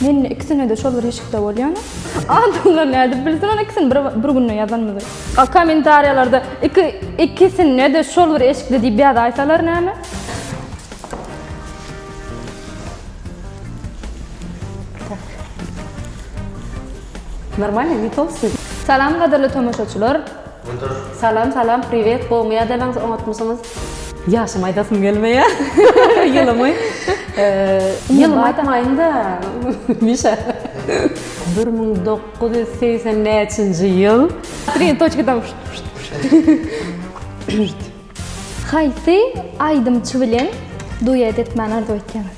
Men indi ikisinede şol bir eşikde bolýan. Adamlar nädip bilsin ol ikisini bir bir günde ýazanymyzy. A kommentariýalarda iki ikisinede şol bir eşikde diýip ýazaýsalar näme? Normalny ne tolstoý. Salam gadyrly tomaşaçylar. Salam salam priwet gowmy ýadalaňyz oňatmysyňyz. Ýaşymy aýdasym gelmeýär. Ýylymy. Ýylymy aýtmaýyn-da. Mişa. Bir müň dokuz ýüz segsen näçinji ýyl? Tri toçkadan. Haýsy aýdymçy bilen duet etmäni arzuw etýäňiz?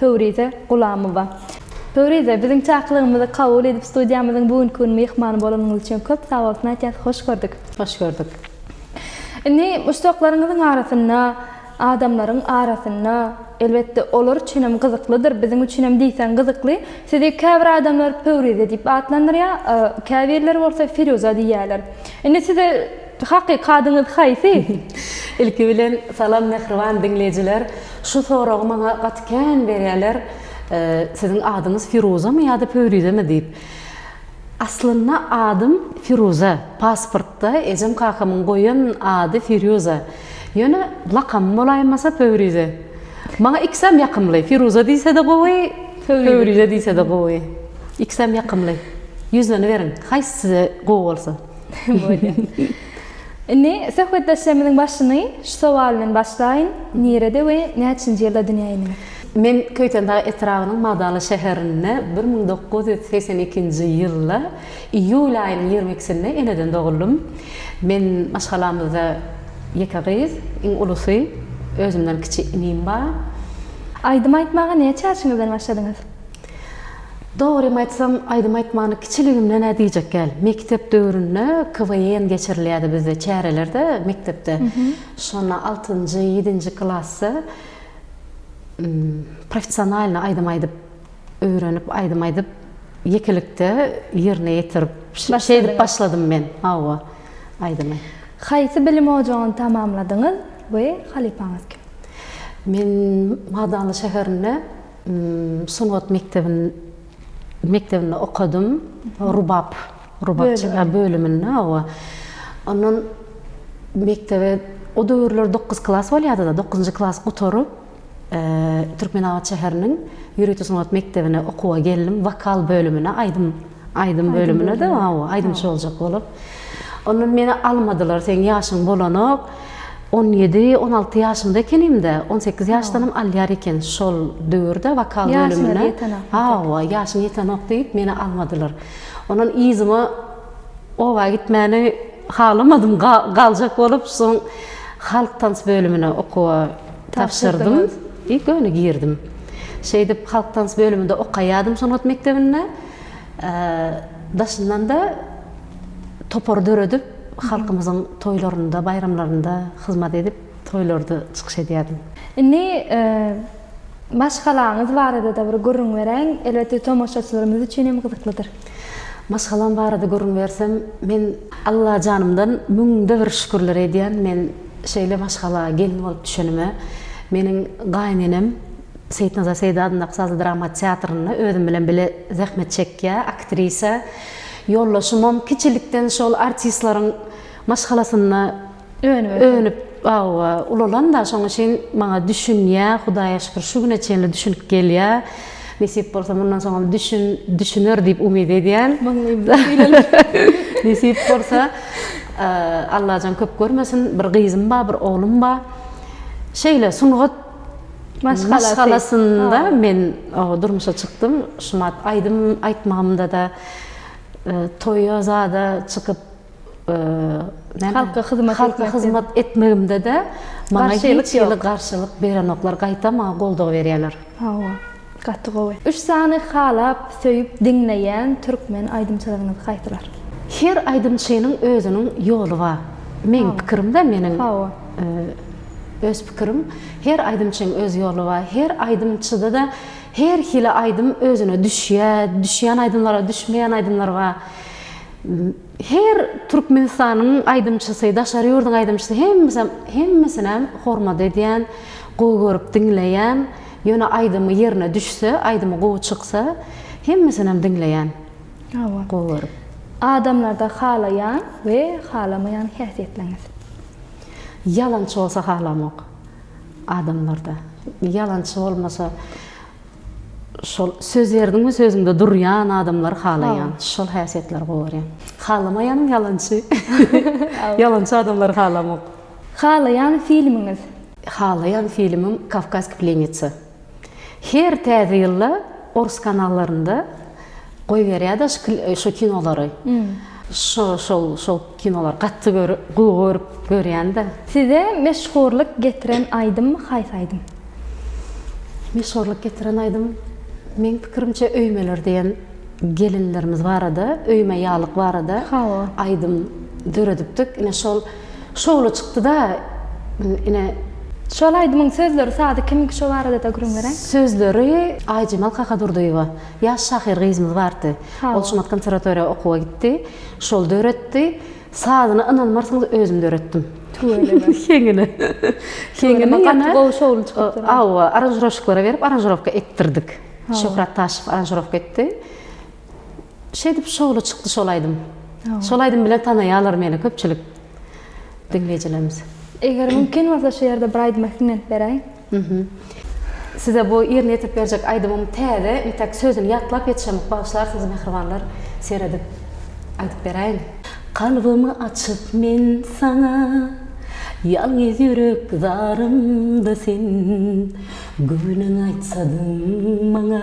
Pöwrize Gulamowa. Pöwrize, biziň çakylygymyzy kabul edip, studiýamyzyň bu günki gün myhmany bolanyňyz üçin köp sag bolsun aýtýas. Hoş gördük. Hoş gördük. Indi muşdaklaryňyzyň arasynda, adamlaryň arasynda, elbetde, olar üçin hem gyzyklydyr, biziň üçin hem diýseň gyzykly. Sizi käbir adamlar Pöwrize diýip atlandyrýar, käbirleri bolsa Firuza diýýärler. Indi size. Hakyky adyňyz haýsy? Ilki bilen salam mähriban diňleýjiler. Şu soragy maňa gaty kän berýärler. Siziň adyňyz Firuzamy ýa-da Pöwrizemi diýip. Aslynda adym Firuza. Pasportda ejem kakamyň goýan ady Firýuza. Ýöne lakamym bolaýmasa Pöwrize. Maňa ikisem ýakymly. Firuza diýse-de gowy, Pöwrize diýse-de gowy. Ikisem ýakymly. Ýüzleniberiň. Haýsy size gowy bolsa. Indi söhbetdeşlerimiziň başyny şu sowal bilen başlaýyn, nirede we näçinji ýylda dünýä inen? Men Köýtendag etrabynyň Magdaly şäherinde bir müň dokuz ýüz segsen ikinji ýylda iýul aýynyň ýigrimi ikisinde eneden doguldym. Men maşgalamyzda ýeke gyz, iň ulusy, özümden kiçi inim bar. Aýdym aýtmaga näçe ýaşyňyzdan başladyňyz? Dogrymy aýtsam, aýdym aýtmany kiçiligimden-ä diýjek däl. Mekdep döwründe KWN geçirilýärdi bizde çärelerde mekdepde. Şonda altynjy, ýedinji klasda professionalnyý aýdym aýdyp öwrenip, aýdym aýdyp ýekelikde ýerine ýetirip, şeýdip başladym men, hawa, aýdymy. Haýsy bilim ojagyny tamamladyňyz we halypaňyz kim? Men Magdanly şäherinde. Sungat mekdebinde okadym. Rubap bölüminde, hawa. Ondan mekdebe o döwürler dokuz klas bolýardy-da. Dokuzynjy klasy gutaryp, Türkmenabat şäheriniň ýörite sungat mekdebine okuwa geldim. Wokal bölümine, aýdym. Aýdym bölümine-de hawa, aýdymçy boljak bolup. Ondan meni almadylar, seň ýaşyň bolanok. On ýedi, on alty ýaşymda ekenim-de, on sekiz ýaşdanam alýar eken şol döwürde wokal bölümine. Hawa, ýaşyň ýetenok diýip, meni almadylar. Ondan yzyma oba gitmäni halamadym, galjak bolup, soň halk tans bölümine okuwa tabşyrdym i göni girdim. Şeýdip, halk tans bölüminde okaýardym sungat mekdebinde. Daşyndan-da topar döredip, halkymyzyň toýlarynda, baýramlarynda hyzmat edip, toýlarda çykyş edýärdim. Indi maşgalaňyz barada-da bir gürrüň beräýiň. Elbetde, tomaşaçylarymyz üçin hem gyzyklydyr. Maşgalam barada gürrüň bersem, men Allajanymdan müňde bir şükürler edýän. Men şeýle maşgala gelin bolup düşenime meniň gaýynenem, Seýitnazar Seýdi adyndaky sazly drama teatrynda özüm bilen bile zähmet çekýär aktrisa ýoldaşymam kiçilikden şol artistleriň maşgalasynda önüp hawa ulalan-da şoň üçin maňa düşünýä Hudaýa şükür şu güne çenli düşünip gelýä nesip bolsa mundan soňam düşün düşüner diýip umyt edýän nesip bolsa Allajan köp görmesin bir gyzym bar bir oglum bar şeýle sungat maşgalasynda men durmuşa çykdym. Şumat aýdym aýtmagymda-da, toýa zada çykyp, halka hyzmat etmegimde-de maňa hiç hili garşylyk berenoklar, gaýtam maňa goldaw berýärler. Gaty gowy. Üç sany halap söýüp diňleýän türkmen aýdymçylaryňyz haýsylar? Her aýdymçynyň özüniň ýoly ba. Meň pikirimde meniň öz pikirim her aýdymçyň öz ýoly ba. Her aýdymçydada her hili aýdym özüne düşýä, düşýän aýdymlara düşmeýän aýdymlar ba. Her türkmenistanyň aýdymçysy daşary ýurduň aýdymçysy hemmesem hemmesinem hormat edýän, gowy görüp diňleýän. Ýöne aýdymy ýerine düşse, aýdymy gowy çyksa, hemmesinem diňleýän. Hawa. Gowy görüp. Adamlarda halaýan we halamaýan häsiýetleňiz. Ýalançy bolsa halamok. Adamlarda. Ýalançy bolmasa şol söz berdiňmi sözüňde durýan adamlary halaýan. Şol häsiýetleri gowy görýän. Halamaýanym ýalançy. Ýalançy adamlary halamok. Halaýan filmiňiz? Halaýan filmim Kavkazki plenitsa. Her täze ýylda orus kanallarynda goýberýär daş şu kinolary. Şo şol şol kinolary gaty görüp gowy görüp görýän-dä. Size meşhurlyk getiren aýdym haýsy aýdym? Meşhurlyk getiren aýdym meň pikirimçe Öýmeler diýen gelinlerimiz barada, Öýme ýalyk barada Hawa. aýdym döredipdik. Ine şol Şowly çykdyda ine. Şol aýdymyň sözleri sazy kimiňki şo baradada gürrüň bereň. Sözleri Aýjemal Kakadurdyýewa ýaş şahyr gyzymyz bardy. Ol Şumat konserwatoriýa okuwa gitdi. Şol döretdi. Sazyny ynanmarsyňyz özüm döretdim. Tüweleme. Heňini. Heňini ýene gowy şowly çykypdyr. Hawa aranžiroşiklara berip aranžirowka etdirdik. Şöhrat Taşow aranžirowka etdi. Şeýdip şowly çykdy şol aýdym. Şol aýdym bilen tanaýarlar meni köpçülik diňleýjilerimiz. Eger mümkin bolsa şu ýerde bir aýdyma hüňňent beräýiň. Size bu ýerine ýetirip berjek aýdymym täze entäk sözüni ýatlap ýetişemok bagyşlarsyňyz mähribanlar seredip aýdyp beräýiň. Kalbymy açyp men saňa Ýalňyz ýürek zarymda sen Göwnüň aýtsadyň maňa.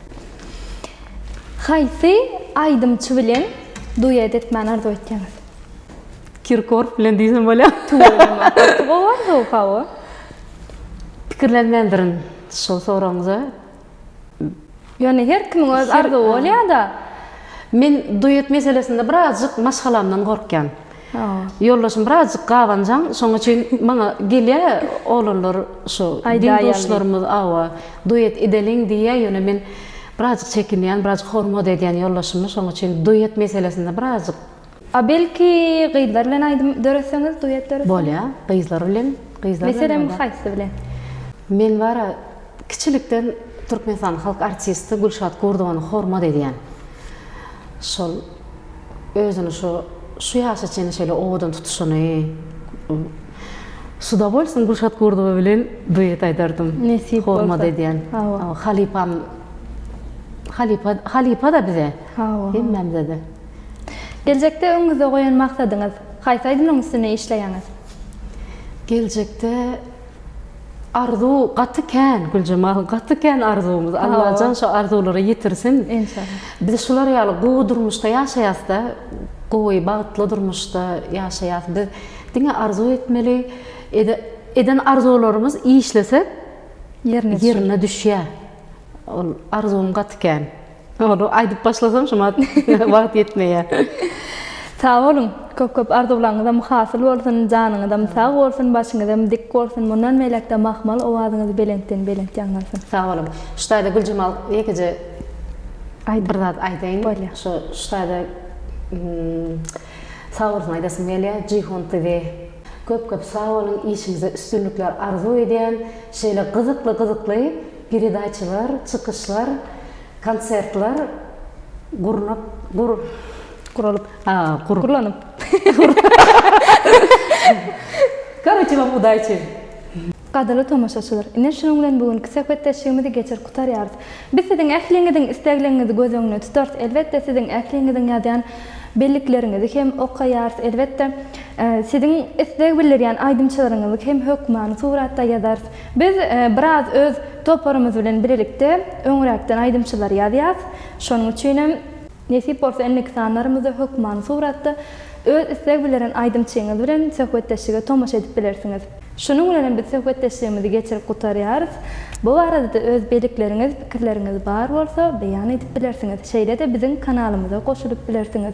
Haýsy aýdymçy bilen duet etmäni arzuw etýäňiz? Kirkorf bilen diýsem bolýar. Tüweleme, gaty gowy arzuw, hawa. Pikirlenmändirin şol soragyňyza. Ýöne her kimiň öz arzuwy bolýar-da. Men duet meselesinde birazjyk maşgalamdan gorkýan. Ýoldaşym birazjyk gabanjaň, şoň üçin maňa gelýär oglanlar şu deň-duşlarymyz awa, duet edeliň diýýär, ýöne men birazjyk çekinýän, birazjyk hormat edýän ýoldaşymy, şoň üçin duet meselesinde birazjyk. A belki gyzlar bilen aýdym döretseňiz, duet döretseňiz? Bolýar, gyzlar bilen, gyzlar bilen. Meselem haýsy bilen? Men bar-a kiçilikden Türkmenistanyň halk artisti Gülşat Gurdowany hormat edýän. Şol. özüni şu şu ýaşa çenli şeýle owadan tutuşyny şuda bolsun Gülşat Gurdowa bilen duet aýdardym nesip bolsa hormat edýän hawa halypam halypa halypada bize hawa hemmämizede geljekde öňüňizde goýan maksadyňyz haýsy aýdymlaryň üstünde işleýäňiz geljekde Arzuw gaty kän Güljemal gaty kän arzuwymyz Allajan şo arzuwlara ýetirsin Enşalla. Biz şular ýaly gowy durmuşda ýaşaýasda gowy bagtly durmuşda ýaşaýas biz diňe arzuw etmeli eden arzuwlarymyz işlesek ýerine düşýä ol arzuwym gaty kän. Ony aýdyp başlasam şumat wagt ýetmeýär. Sag boluň, köp köp arzuwlaňyzam hasyl bolsun, janyňyzam sag bolsun, başyňyzam dik bolsun, mundan beýläkde mahmal owazyňyz belentden belent ýaňlansyn. Sag boluň. Şu taýda Güljemal ýekeje Aýdyň. Bir zat aýdaýyn. Bolýar. Şu şu taýda sag bolsun aýdasym gelýär. Jihon TV köp köp sag boluň, işiňizde üstünlikler arzuw edýän. Şeýle gyzykly gyzykly Peredaçalar, çykyşlar, konsertler gurnup, gur, guralyp, a, gur, gurlanyp, gur, koroçe wam udaçi! Gadyryly tomaşaçylar, ine şunuň bilen bu günki söhbetdeşligimizi geçirip gutarýarys. Biz siziň ähliňiziň islegliňizi göz öňünde tutarys, elbetde siziň ähliňiziň ýazýan bellikleriňizi hem okaýarys, elbetde siziň isleg bildirýän aýdymçylaryňyzy hem hökmany suratda ýazarys. Biz biraz öz toparymyz bilen bilelikde öňräkden aýdymçylary ýazýas. Şonuň üçinem. Nesip bolsa indiki sanlarymyzda hökmany suratda öz isleg bildiren aýdymçyňyz bilen söhbetdeşlige tomaşa edip bilersiňiz. Şunuň bilenem biz söhbetdeşligimizi geçirip gutarýarys. Bu baradada öz belikleriňiz, pikirleriňiz bar bolsa beýan edip bilersiňiz. Şeýle-de biziň kanalymyza goşulyp bilersiňiz.